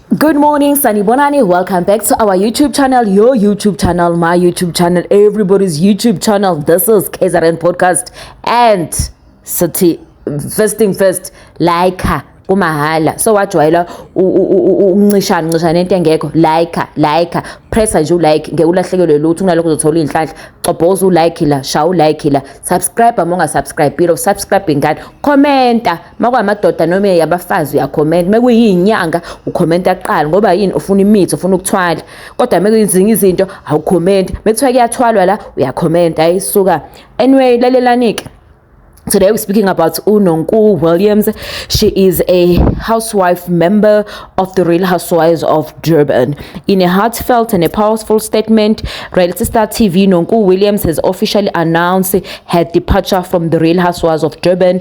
Good morning, Sanibonani. Welcome back to our YouTube channel, your YouTube channel, my YouTube channel, everybody's YouTube channel. This is KZN Podcast. And Sati, first thing first, like her. kumahala so wajwayela ukuncishana ncishana into engekho like like pressa nje ulike ngeke ulahlekelwe lutho kunalokho uzothola iy'nhlanhla cobhoza ulike la shaya ulike la subscribe uma ungasubscribile usubscribe ingane commenta makwamadoda noma yabafazi uyakhomenta mekuyinyanga ukhomenta kuqala ngoba yini ufuna imithi ufuna ukuthwala kodwa mekuyizinga izinto awukhomenti mekuthiwa kuyathwalwa la uyakhomenta hayi suka anyway lalelanike Today we're speaking about Unonku Williams. She is a housewife member of the Real Housewives of Durban. In a heartfelt and a powerful statement, reality star TV Nonku Williams has officially announced her departure from the Real Housewives of Durban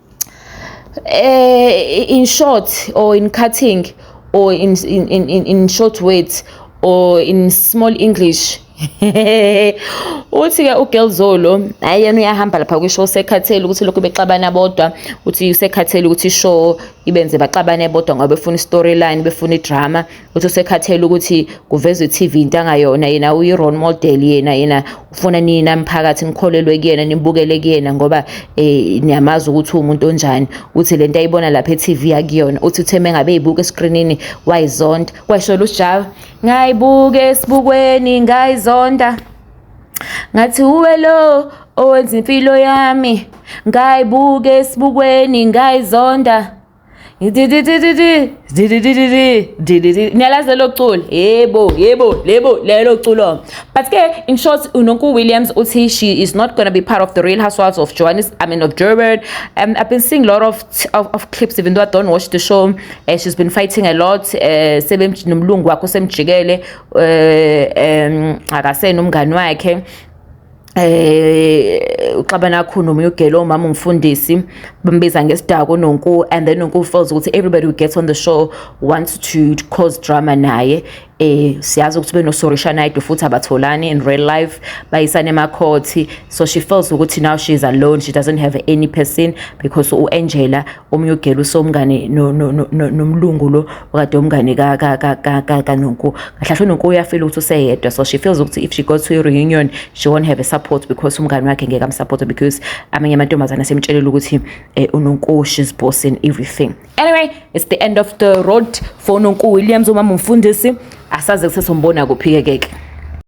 eh in short or in cutting or in in in, in short words or in small english uthi ke uGelzolo hayi yena uyahamba lapha kwisho usekhathele ukuthi lokhu bexabana bodwa uthi usekhathele ukuthi ishow ibenze baxabane bodwa ngoba befuna i-storyline befuna idrama uthi usekhathele ukuthi kuvezwe TV into angayona yena uyi role model yena yena ufuna nina mphakathi nikholelwe kuyena nibukele kuyena ngoba eh niyamazi ukuthi umuntu onjani uthi lento ayibona lapha eTV yakuyona uthi utheme ngabe ibuka escreenini wayizonda kwashola uSjava ngayibuka esibukweni ngayizonda ngathi uwe lo owenza impilo yami ngayibuka esibukweni ngayizonda niyalazi lelo culo yebo yebo lebo lelo culo but ke in short unonku williams uthi she is not gonna be part of the real housewives of johannes i mean of german um, i've been seeing a lot of, of, of clips even though i don't watch the show uh, she's been fighting a lot uh, sebenomlungu wakho semjikele uh, um, akasena umngani wakhe eh uxabana kakhulu nomunye ugelo umama umfundisi bambiza ngesidako nonku and then nonku feels ukuthi everybody who gets on the show wants to cause drama naye eh siyazi ukuthi benosorisha nayido futhi abatholani in real life bayisane emakhothi so she feels ukuthi now she is alone she doesn't have any person because uAngela omunye ugela usomngane nomlungu lo okade umngane kanonku kahlahle unonku uyafila ukuthi useyedwa so she feels ukuthi if she goes to i-reunion she won't have a support because umngane wakhe ngeke amsupporte because amanye amantombazane asemtshelela ukuthi eh, unonku she's boss in everything anyway it's the end of the road for unonku williams umama umfundisi asaze kusesombona kuphi-ke keke